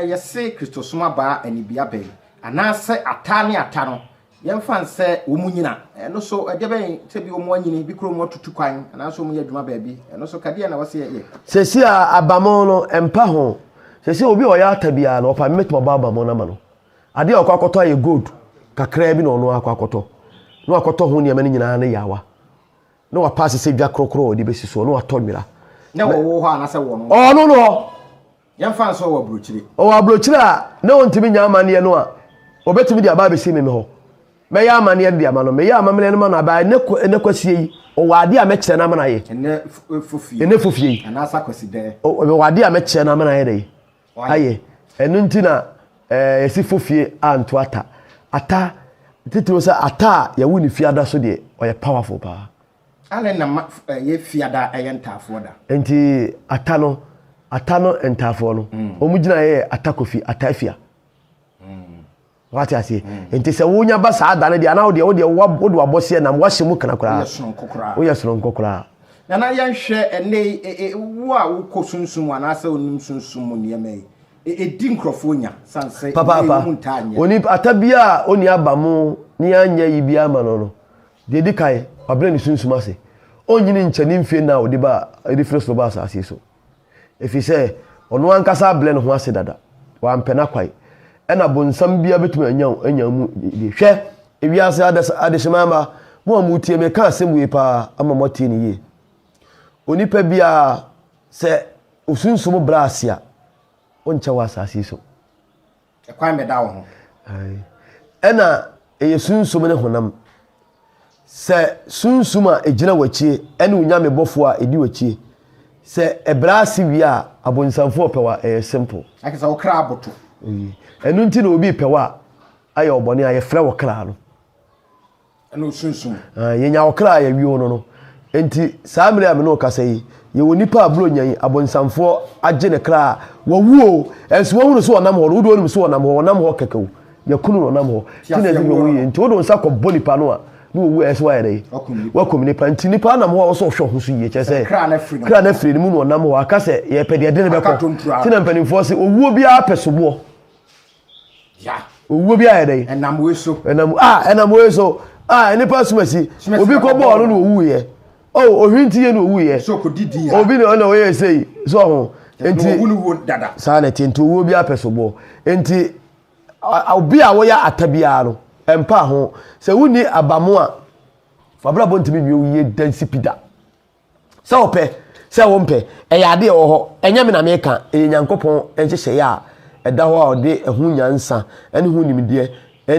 yɛse Kristosom abaa anibea bɛn, anaasɛ ata ne ata no Yɛmfa nsɛ wɔnyin a, ɛno so ɛdeɛbɛn? Sɛbi wɔanyini, bi kura wɔatutu kwan, anaasɛ wɔyɛ adwuma baabi, ɛno so ka deɛn na wɔsɛ yɛyɛ? Seesei a
abamono no mpa ho, seesei obi a ɔyɛ ata biara no, ɔpɛ a metumi abɔ abamono no ama no. Adeɛ a ɔkɔ akɔtɔ ayɛ gold kakraa bi na ɔno akɔ akɔtɔ, na wakɔtɔ ho nneɛma no nyinaa ne yaawa, na wapaase sɛ dwa korokoro a ɔde bɛsi soɔ, na watɔ nwera. Na ɛwɔ wo hɔ
anaasɛ ɛwɔ ɔno hɔ? Ɔno no hɔ. Yɛmfa nso ɔwɔ aburokyire. Ɔwɔ
aburokyire a na ɔntumi nyɛ amanneɛ no a, ɔbɛtumi de aba abɛsi me me hɔ. Mɛyɛ amanneɛ no de ama no. Meyɛ amamneɛ no ma no abaa ɛnnɛ kwa ɛnnɛ kwasie yi, ɔwɔ adeɛ a mɛkyerɛ no ama no ayɛ. Ɛnnɛ fofie. Ɛnnɛ fofie yi. Anaasɛ
akwasidɛɛ. Ɔ, ɔwɔ adeɛ a mɛkyerɛ
no ama no ayɛ dɛ yi. Ayɛ. Ɛno nti na ɛɛ yɛsi fofie anto ata. Ata, titiriw sɛ ata a yɛwo no fiada so deɛ, ɔyɛ powerful paa. Adɛn na ma
ɛyɛ fiada a ɛyɛ ntaafoɔ da? Enti ata
no, ata no ntaafoɔ no, wɔn mm. gyinaeɛ yɛ ata kofi, ata afia. Mm. wate aseɛ mm. nti sɛ wonya ba saa da no deɛ anaa wodeɛ wodeɛ wode wabɔseɛ nam wahyɛ mu kana koraa woyɛ soronko koraa nana yɛnhwɛ
ɛnɛ e, e, e, wo a wokɔ sunsum mu anaasɛ wonim sunsum mu nneɛma yi ɛdi nkurɔfoɔ nya sane sɛ papaapa
onipa ata biaa ɔni aba mu ne anyɛ yi biaa ma no no Deɛ ɛdi kan, wabrɛ ne sunsum ase. Ɔnnyini nkyɛ ne mfie nna a ɔde baa, ɔde firi soro baa asase so. Ɛfiri sɛ, ɔno ankasa abrɛ ne ho ase dada. Wampɛ n'akwan. Ɛna bonsam biara bɛtumi anya wo, anya wo mu die. Hwɛ, ewiase adas, adehyema mma, mo a moretie me, meka asɛm wei paa ama moatie no yie. Onipa biara, sɛ wo sunsum brɛ ase a, ɔnkyɛ wɔ asase so. Ɛkwan
bɛda wo ho. Ae. Ɛna
ɛyɛ sunsum ne honam. Sɛ sunsum a ɛgyina w'akyie ɛne wo Nyame bɔfoɔ a ɛdi w'akyie, sɛ ɛbrɛ ase wie a, abonsamfoɔ ɔpɛ wo a, ɛyɛ simple. Ɛkyerɛ sɛ wo kra aboto.
Ɛno nti
na obi repɛ wo a, ayɛ wo bɔne a, yɛfrɛ wo kra no. Ɛna
osunsum. Aane, yɛnya ɔkra a
yɛwe o no no. Enti, saa mmerɛ a me ne wo kasa yi, yɛwɔ nipa a Buronya yi, abonsamfoɔ, agye ne kra a, wawu o, nso woahu no sɛ ɔnam hɔ no, wodeɛ wonim sɛ ɔnam hɔ, ɔnam hɔ kɛkɛ o, yɛakum no, ɔnam hɔ, nti na ɛde wawu yi, nti wode wo nsa kɔbɔ nipa no a, na wawu a, ɛyɛ sɛ woayɛ dɛ? Woakum nipa, nti nipa anam hɔ a, ɛwɔ sɛ wohwɛ wo ho so yie, kyerɛ sɛ, kra no afiri ne mu na ɔnam hɔ, aka sɛ, yɛpɛ deɛ ɛde no bɛkɔ, nti na mpanimfoɔ se, owuo biara pɛ soboɔ.
owuo bi ayɛ
dɛn ɛnam wei so ɛnam
ah ɛnam wei so ah
nipa sumasi obi kɔ bɔɔl no na owu yɛ oh ohun ti yɛ na owu yɛ so kò didi ya obi na
ɔna ɔyɛ ɛsɛ yi
so ɔho nti owu no wo dada
saa na ɛte nti owuo bi
apɛ so bɔ nti obi a wɔyɛ ata biara no ɛmpa ho sɛ wonni abamo a fabrabɔ ntumi wie wo yie dansi pida Sɛ wopɛ, sɛ wompɛ, ɛyɛ ade a ɛwɔ hɔ. Ɛnyɛ me na meka, ɛyɛ Nyankopɔn nhyehyɛeɛ a ɛda hɔ a ɔde ɛho nyansa ne ho nimdeɛ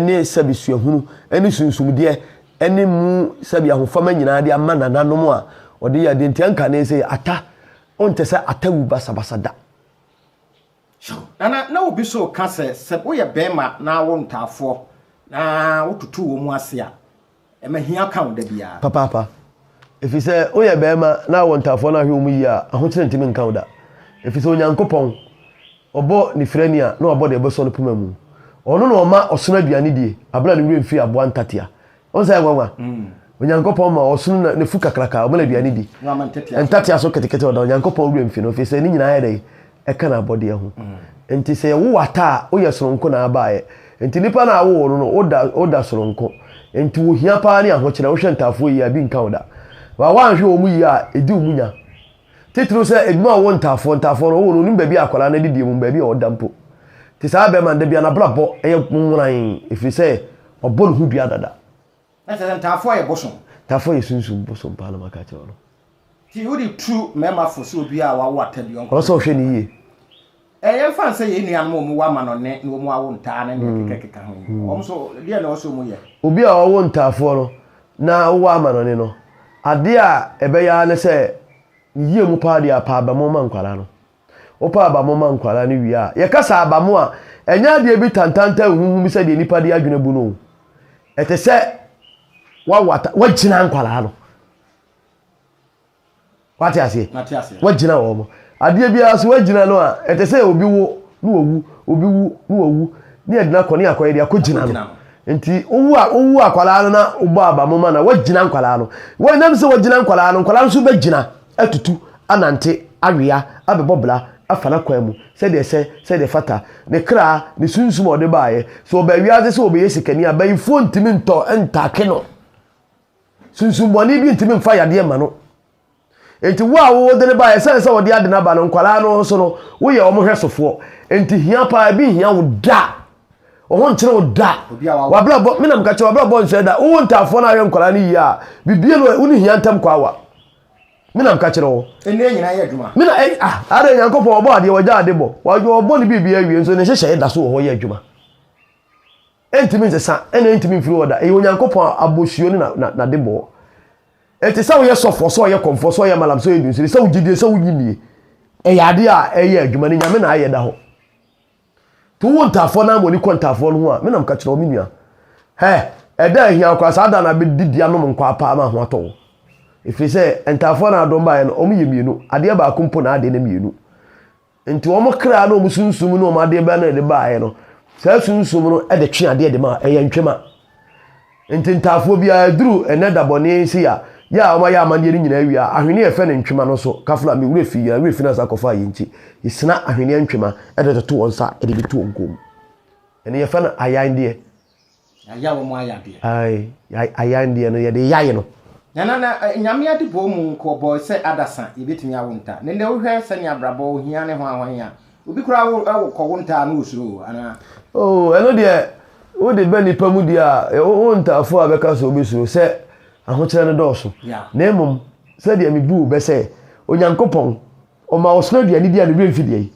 ne sɛbe suahunu ne sunsumdeɛ ne mu sɛbe ahofama nyinaa de ama nananom a ɔde yɛɛ adeɛ nti ɛnka ne sɛ ata ɔntɛ sɛ ata wu basabasa da.
Nana, na obi so reka sɛ sɛ woyɛ bɛɛma na awo ntaafoɔ na wototo wɔn ase a, Ma hia ka wo da biara. Papaapa.
Ɛfiri sɛ woyɛ barima na wɔ ntaafoɔ no ahwɛ wɔn yie a, ahokyere ntumi nka wo da. Ɛfiri sɛ Onyankopɔn, ɔbɔ ne firani a na wabɔ deɛ ɛbɛsɔ no poma mu. Ɔno na ɔma ɔsono aduane die berɛ a ne werɛ mfiri aboa ntatea. Wohu saa nwanwa? Onyankopɔn ma ɔsono na n'afu kakraka, ɔma no aduane di. Ntatea so ketekete ɔda Onyankopɔn werɛ mfi no, ɛfiri sɛ ne nyinaa yɛ dɛn? ɛka n'abɔdeɛ ho. Nti sɛ yɛwo wo ata a, woyɛ sononko na abaeɛ. Nti nipa no a wowoo no no, woda woda sononko. Nti wo hia paa ne ahokyerɛ. Wohwɛ ntaafoɔ yie a, ebi nka wo da. Ba woanhwɛ wɔn yie a, ɛdi wɔn nya. Titiriw sɛ edwuma a wɔwɔ ntaafoɔ, ntaafoɔ no, wowoo no, wonim baabi a akwadaa no adidie wom, baabi a ɔda mpo. Nti saa bɛɛma no, da biara n'abrabɔ yɛ nworan, ɛfiri sɛ wabɔ ne ho dua dada. Na kyerɛ sɛ
ntaafoɔ yɛ bosom. Ntaafoɔ yɛ sunsum
bosom paa na maka akyerɛ wo no. Nti wode tu
mmarima fo sɛ obiara a wawo ata bi ɔnkɔ. Ɔwɔ sɛ ɔhwɛ no yie.
Ɛɛ yɛmfa
no sɛ yɛn nuanom a wɔwo amanɔnne na wɔawo ntaa ne nea ɛkekakeka ho yi, wɔn nso deɛn na ɛwɔ sɛ wɔyɛ? Obi a ɔwo ntaafoɔ
no na ɔwo amanɔnne no, adeɛ a ɛbɛyɛ ara ne sɛ ne yie mu paa deɛ apɛ abamɔ ma nkwadaa no. Wopa abamo ma nkwadaa no wie a, yɛkasa abamo a, ɛnyɛ adeɛ bi tantaantan huhu bi sɛdeɛ nnipa de adwene bu no o. Ɛte sɛ wawata, wagyina nkwadaa no. Wate aseɛ? Wagyina wɔn. Adeɛ biara so wagyina no a, ɛte sɛ obi wo na wawu, obi wu na wawu, ne yɛdena kɔ ne yɛakɔyɛ de akɔgyina no. Nti wowu a wowu akwadaa no na wobɔ abamo ma no a, wagyina nkwadaa no. Wɔnam sɛ wagyina nkwadaa no, nkwadaa no nso bɛgyina. atutu anante awea abɛbɔ bra afa n'akwan mu sɛdeɛ ɛsɛ, sɛdeɛ ɛfata, ne kra, ne sunsum a ɔde baeɛ. Sɛ ɔbaa wiase sɛ ɔbɛyɛ sikani a, bayifoɔ ntumi ntɔ ntaake no. Sunsumbɔne bi ntumi mfa yadeɛ mma no. Enti wo a wode no baeɛ, ɛsiane sɛ ɔde ade no aba no, nkwadaa no nso no, woyɛ wɔn hwɛ sofoɔ. Enti hia paa, ebi nhia wo da. Wo ho nkyene wo da. Wabrabɔ, me na meka kyerɛ, wabrabɔ nsɔɛ da. Wowɔ ntaafoɔ no ahwɛ nkwadaa no yie a, bibie no, wo ne hia ntam kɔ awa. Me na meka kyerɛ wo. Nnua nyinaa yɛ adwuma.
Me na ɛyɛ ah. Ara
Nyankopɔn ɔbɔ adeɛ ɔgya ade bɔ. Ɔdwo ɔbɔ ne biribi awie nso ne nhyehyɛeɛ da so wɔ hɔ yɛ adwuma. Ɛntumi nsesa ɛna ɛntumi mfiri hɔ da. Ɛyɛ Onyankopɔn abɔsuo ne na na debɔɔ. Ɛnti sɛ woyɛ sɔfoɔ, sɛ ɔyɛ kɔmfoɔ, sɛ ɔyɛ malam, sɛ ɔyɛ dunsini, sɛ wogye die, sɛ wonye nnie, ɛyɛ adeɛ a ɛyɛ adwuma ne Nyame na ayɛ da hɔ. To wo ntaafoɔ no ara ma w'ani kɔ ntaafoɔ no ho a, me na meka kyerɛ wo, me nua. Hɛ! Ɛda a ɛhia wo koraa, saa da no ara bɛdidi anom nkwaa paa ma ho atɔ wo. Ɛfiri sɛ, ntaafoɔ no a dɔm baeɛ no, wɔyɛ mmienu, adeɛ baako mpo na adeɛ no mmienu. Enti wɔn kra ne wɔn sunsum ne wɔn adeɛ bɛn na ɛde baeɛ no, saa sunsum no de twe adeɛ de ma, ɛyɛ ntwema. Nti ntaafoɔ biara ɛduru ɛnɛ da bɔne yi se a yɛ a wɔn ayɛ amaneɛ no nyinaa wie a ahweneɛ a ɛfɛ no ntwema no nso kafo no a me werɛ fi yɛn werɛ fi no ansa kɔfaa yɛn nti yɛsina ahweneɛ ntwema ɛde toto wɔn nsa ɛde de to wɔn kɔn mu ɛno yɛfɛ no ayan deɛ yɛayɛ
wɔn ayadeɛ ae ayan
deɛ no yɛde yae no na na na eh,
nyame ade bɔɔ mu nko ɔbɔɔ sɛ adasa yɛbɛtumi awo nta ne ndɛ wohwɛ sɛnea abrabɔ ohia ne ho ahohia Obi koraa wo wo kɔ wo ntaa no wo suro o
anaa. Oh ɛno deɛ wode bɛ nipa mu deɛ a wo wo ntaafoɔ a bɛka sɛ wobɛ suro sɛ ahokyerɛ no dɔɔso na mmom sɛdeɛ me buu bɛ sɛ Onyankopɔn ɔma wo sono aduane bi a ne werɛ mfi deɛ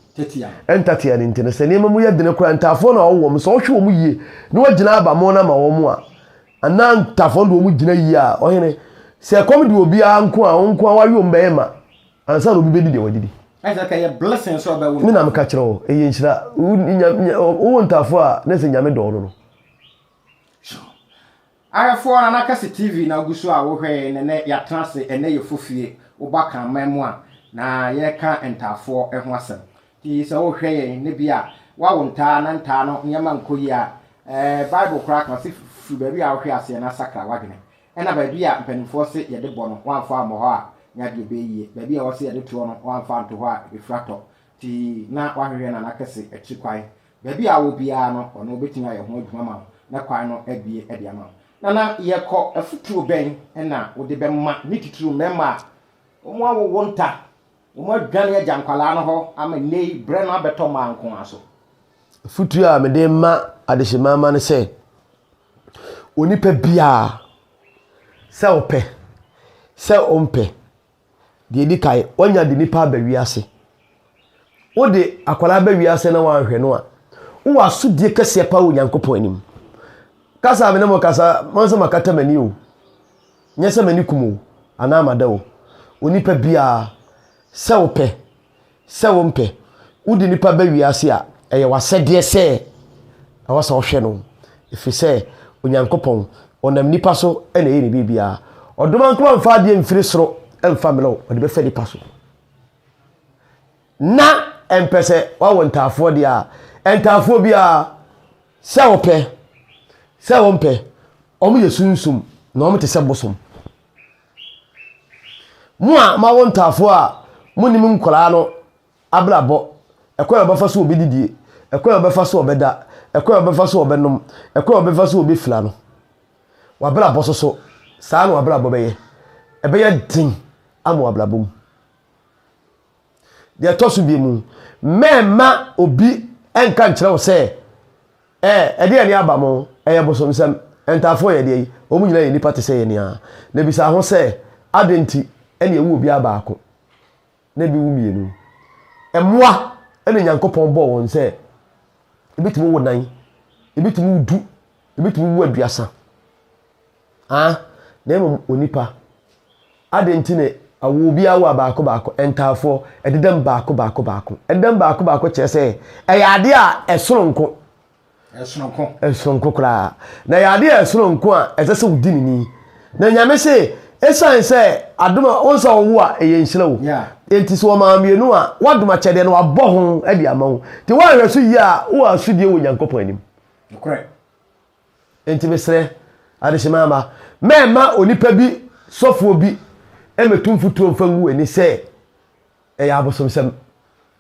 ɛntatea
no nti no
sɛ nneɛma mu yɛ dene koraa ntaafoɔ na ɔwo wɔn sɛ ɔhwe wɔn yie na wagyina aba mo no ama wɔn a anaa ntaafoɔ no deɛ wɔn gyina yie a ɔhene sɛ ɛkɔm de obiara nko a wo nko a wawe wɔn bɛyɛ ma Ansa na obi bɛdi deɛ wadi bi. Ɛsɛ ka yɛ blessing
sɛ ɔbɛwo no. Me na meka kyerɛ wo, ɛyɛ
nhyira. Wowo ntaafoɔ a na ɛsɛ Nyame dɔɔ no no.
Ahwɛfoɔ Nana Kɛse TV na wogu so a wohwɛe no ɛnɛ yɛatena ase ɛnɛ yɛ Fofie woba Kraman mu a na yɛreka ntaafoɔ ho asɛm nti sɛ wohwɛ yɛn na bi a woawo ntaa na ntaa no nneɛma nkɔ yie a ɛɛ Bible koraa ka ɔse firi baabi a wohwɛ aseɛ na sakra w'adwene Ɛna baabi a mpaninfoɔ se yɛde bɔ no wɔamfa ammɔ hɔ a nya deɛ ɛbɛyɛ yie, baabi a wɔse yɛde toɔ no wɔamfa anto hɔ a ɛbɛfiri atɔ, nti na wahwehwɛ Nana Kɛse akyiri kwan. Baabi a wowɔ biara no ɔno ɔbɛtumi ayɛ ho adwuma ma wo na kwan no abue de ama wo. Nana, yɛkɔ, afotuo bɛn na wode bɛma ne titiriw mmarima a wɔn awowo nta, wɔn adwane agya nkwadaa no hɔ ama nnɛyi berɛ no abɛtɔ mmaa nko ara so? Afotuo
a mede ma adehyemma mma ne sɛ, Onipa biara, sɛ ɔpɛ, sɛ ɔmpɛ, deɛ ɛdi kan, wanya de nipa aba wiase. Wode akwadaa ba wiase na wanhwɛ no a, wowɔ asodie kɛseɛ paa wɔ Nyankopɔn anim. Kasa a me ne mo kasa, mo sɛ makata m'ani o, nyɛ sɛ m'ani kum o, anaa mada o. Onipa biara, sɛ ɔpɛ, sɛ wompɛ. Wode nipa ba wiase a, ɛyɛ w'asɛdeɛ sɛ ɛwɔ sɛ wohwɛ no, ɛfiri sɛ Onyankopɔn, ɔnam nnipa so na ɛyɛ ne biribiara. Ɔdom ankoma mfa adeɛ mfiri soro mfa mmrɛ wo, ɔde bɛfa nipa so. Na ɛmpɛ sɛ wawo ntaafoɔ deɛ a, ntaafoɔ biara, sɛ wopɛ, sɛ wompɛ, wɔn yɛ sunsum na wɔn te sɛ bosom. Mo a moawo ntaafoɔ a monnim nkwadaa no abrabɔ, ɛkwan a wɔbɛfa so a wɔbɛdidie, ɛkwan a wɔbɛfa so a wɔbɛda, ɛkwan a wɔbɛfa so a wɔbɛnom, ɛkwan a wɔbɛfa so a wɔbɛfira no. W'abrabɔ so so, saa na w'abrabɔ bɛyɛ. Ɛbɛyɛ den ama w'abrabɔ mu. Deɛ ɛtɔ so bie mu, mɛmma obi nka nkyerɛ wo sɛ, ɛɛ, ɛdeɛ ne aba mo, ɛyɛ bosomsɛm. Ntaafoɔ yɛ deɛ yi, wɔn nyinaa yɛ nnipa te sɛ yɛn ara. Na bisa ho sɛ, adɛn nti na ɛwu obiara baako, na ebi wu mmienu? Mmoa na Nyankopɔn bɔɔ wɔn sɛ ebitumi wo nan, ebitumi wo du, ebitumi wo aduasa. Aah, na mmom onipa. Adɛn nti na awo bi awo a baako baako, ntaafoɔ, ɛdedam baako baako baako? Ɛdedam baako baako kyerɛ sɛ ɛyɛ adeɛ a ɛsoronko. Ɛsoronko. Ɛsoronko koraa. Na ɛyɛ adeɛ a ɛsoronko a ɛsɛ sɛ wodi ne ni. Na Nyame se, esiane sɛ adom a wɔn sɛ wɔwo a ɛyɛ nhyira o. Enti sɛ wɔmaa mmienu a, wɔadom akyɛdeɛ no, wɔabɔ ho de ama wo. Nti woanhwɛ so yie a, wowɔ asodie wɔ Nyankopɔn anim. Nokorɛ. Enti mesrɛ adehyema mma mɛmma onipa bi sɔfoɔ bi mmɛtu mfuturo mfa ngu w'ani sɛ ɛyɛ abosomsɛm.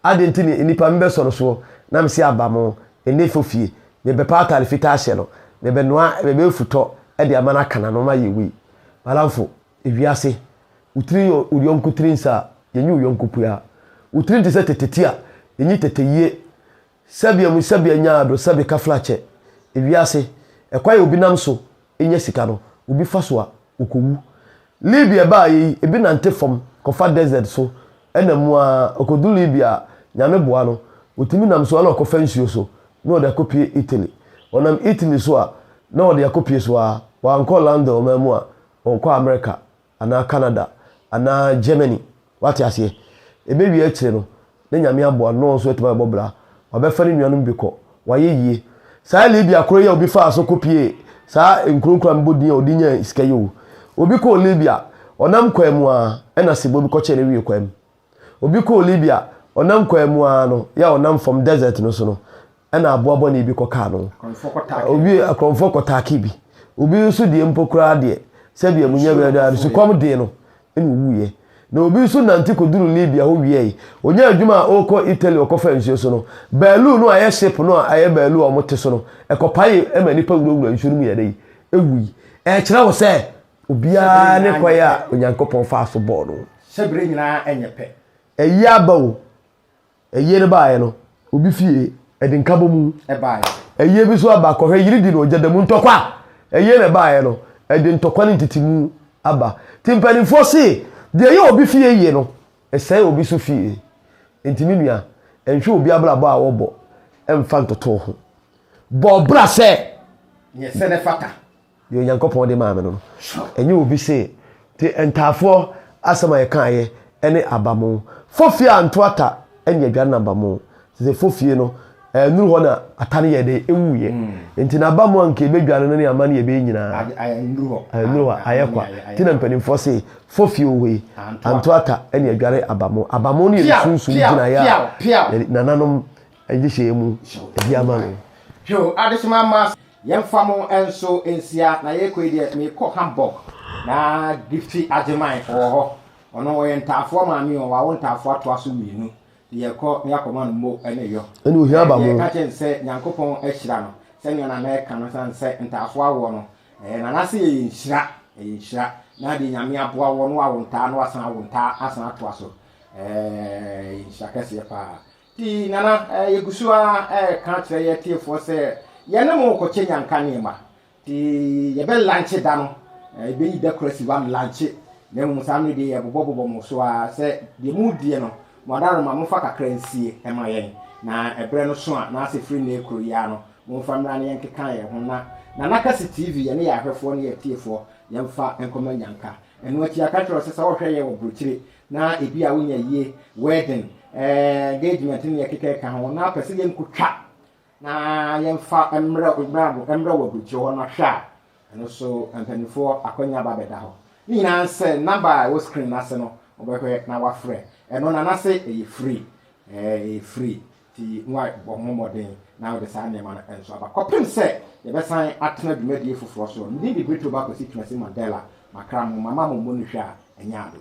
Adɛn nti ne nnipa mebɛsɔ no soɔ na mese aba mo nnefo fie, mebɛpa atare fitaa ahyɛ no, mebɛnoa bɛbɛ futɔ de ama no aka n'ano ma yɛwei? Balaamfo, ewiase, wo tiri yɛ wo yɔnko tiri nsa a, yɛnyi wo yɔnko pua. Wo tiri nte sɛ tete ti a, yɛnyi tete yie. Sɛbea mu sɛbea nyaa do sɛbe kaflakyɛ. Wiase, kwan a obi nam so nya sika no, obi fa so a, okowu. Libya ɛbaeɛ yi, ebi nante fam kɔfa desert so ɛnam mu ara ɔkɔdu Libya a, Nyame boa no, ɔtumi nam so ara na ɔkɔfa nsuo so na ɔde akɔpue Italy. Ɔnam Italy so a, na ɔde akɔpue so ara, wankɔ London ɔman mu a, ɔnkɔ America. anaa Canada anaa Germany wate aseɛ ɛbɛwie akyire no na Nyame aboa no na ɔnso atumi abɛbɔ bra wabɛfa ne nuanom bi kɔ wayɛ yie saa Libya koro yi a obi faa so kɔ piee saa nkuro nkura mebɔ din a ɔde nyaa sika yi o obi kɔɔ Libya ɔnam kwan mu a ɛna sebɔ bi kɔkyɛɛ no wiee kwan mu Obi kɔɔ Libya, ɔnam kwan mu ara no, yɛ a ɔnam fam desert no so no, ɛna aboa bɔne bi kɔkaa no. Akorɔmfoɔ kɔtaakee no. Obi, akorɔmfoɔ kɔtaakee bi. Obi nso deɛ mpo koraa deɛ, sɛdeɛ mo nya biara no, sukɔm dee no, ɛna owuiɛ. Na obi nso nante kɔduruu Libya hɔ wiae. Ɔnyaa adwuma a ɔrekɔ Italy ɔkɔfaa nsuo so no, baalu no a ɛyɛ ship no a ɛyɛ baalu a wɔte so no, ɛkɔpaee ma nnipa wurawuraa nsuo no mu yɛ dɛ yi? Ɛwui. Ɛrekyerɛ wo sɛ. Obiara ne kwan a Onyankopɔn faa so bɔɔ no. Hyɛ bere nyinaa
ɛnyɛ pɛ. Ɛyɛ aba
o. Ɛyɛ no baeɛ no, obi fie ɛde nkabɔ mu. Ɛbaeɛ. Ɛyɛ
bi nso aba
kɔhwɛ yiri di na ɔgya da mu ntɔkwa. Ɛyɛ na ɛbaeɛ no, ɛde ntɔkwa ne ntetemu aba. Ti mpanimfoɔ se, deɛ ɛyɛ obi fie yie no, ɛsɛe obi nso fie. Enti me nua, nhwɛ obi abrabɔ a ɔrebɔ mfa ntoto wo ho. Bɔ bra sɛ. Yɛ sɛ na
ɛfata. Deɛ Onyankopɔn
de maa me no, ɛnyɛ obi se te ntaafoɔ asɛm a yɛkaeɛ ɛne abamoo. Fofie a nto ata ɛne adwa no na abamoo. Te sɛ fofie no ɛnuru hɔ na ata no yɛ dɛ ɛwuiɛ. Mm. Nti na abamoo a nka ɛbɛdwa no ne ama no yɛ bɛyɛ nyinaa. Ɛnuru hɔ. Ɛnuru hɔ, ayɛ kwa. Ti na mpanimfoɔ se fofie wɔ hɔ yi, anto ata ɛne adware abamoo. Abamoo no yɛ ne sunsum gyinaeɛ a nananom Nhyehyɛɛ mu di ama me. Hwɛo, adehyema
ama ase. Yɛmfa mo nso nsia na yɛrekɔ yi deɛ merekɔ Hamburg na Gifty Agyeman ɔwɔ hɔ ɔno ɔyɛ ntaafoɔ maame o wawo ntaafoɔ atoa so mmienu nti yɛrekɔ na yɛakɔma no mo ne yɔ ɛne ohia aba mo ɛka
kyɛn sɛ Nyankopɔn
ahyira no sɛnea na mɛka no sane sɛ ntaafoɔ awoɔ no ɛyɛ nana sɛ yɛyɛ nhyira ɛyɛ nhyira na deɛ nyame aboa woɔ no wawo ntaa na wasan awo ntaa asan atoa so ɛɛ nhyira kɛseɛ paa Nti, Nana, yɛgu so ara reka kyerɛ yɛn atiefoɔ sɛ yɛne mo rekɔkyɛ nyanka nneɛma. Nti, yɛbɛlankye da no, yɛbɛyi da koro asi hɔ alankye, na mmom saa mmerɛ deɛ yɛbobɔbobɔ mo so ara sɛ deɛ moredie no, mo adaworoma momfa kakra nsie mma yɛn, na ɛberɛ no so a, anaasɛ firi nnɛ kuro yi ara no, momfa mmra na yɛnkeka yɛn ho na Nana Kase TV, yɛne yɛn ahwɛfoɔ ne yɛn atiefoɔ, yɛmfa nkɔma nyanka. Ɛno akyi, yɛaka akyerɛ wo sɛ sɛ wohwɛ yɛn wɔ aburokyire na ebia wonya yie, wedding, eh, engagement ne ɛkeka ɛka ho na apɛ sɛ yɛnkɔtwa na yɛmfa mmerɛ mmerɛ wɔ aburukyerɛ hɔ no ahwɛ a ɛno so mpanimfoɔ akwanya ba bɛda hɔ ne nyinaa sɛ namba a ɛwɔ screen no ase no wɔbɛhwɛ na wafrɛ ɛno na nase ɛyɛ free ɛyɛ free Enti moabɔ mo mmɔden na mode saa nneɛma no nso aba. Kɔpem sɛ yɛbɛsan atena dwumadie foforɔ so no, me din de Brito Bakwasi Twumasi Mandela. Makra mo, mama mo mmɔ no hwa a ɛnyɛ ado.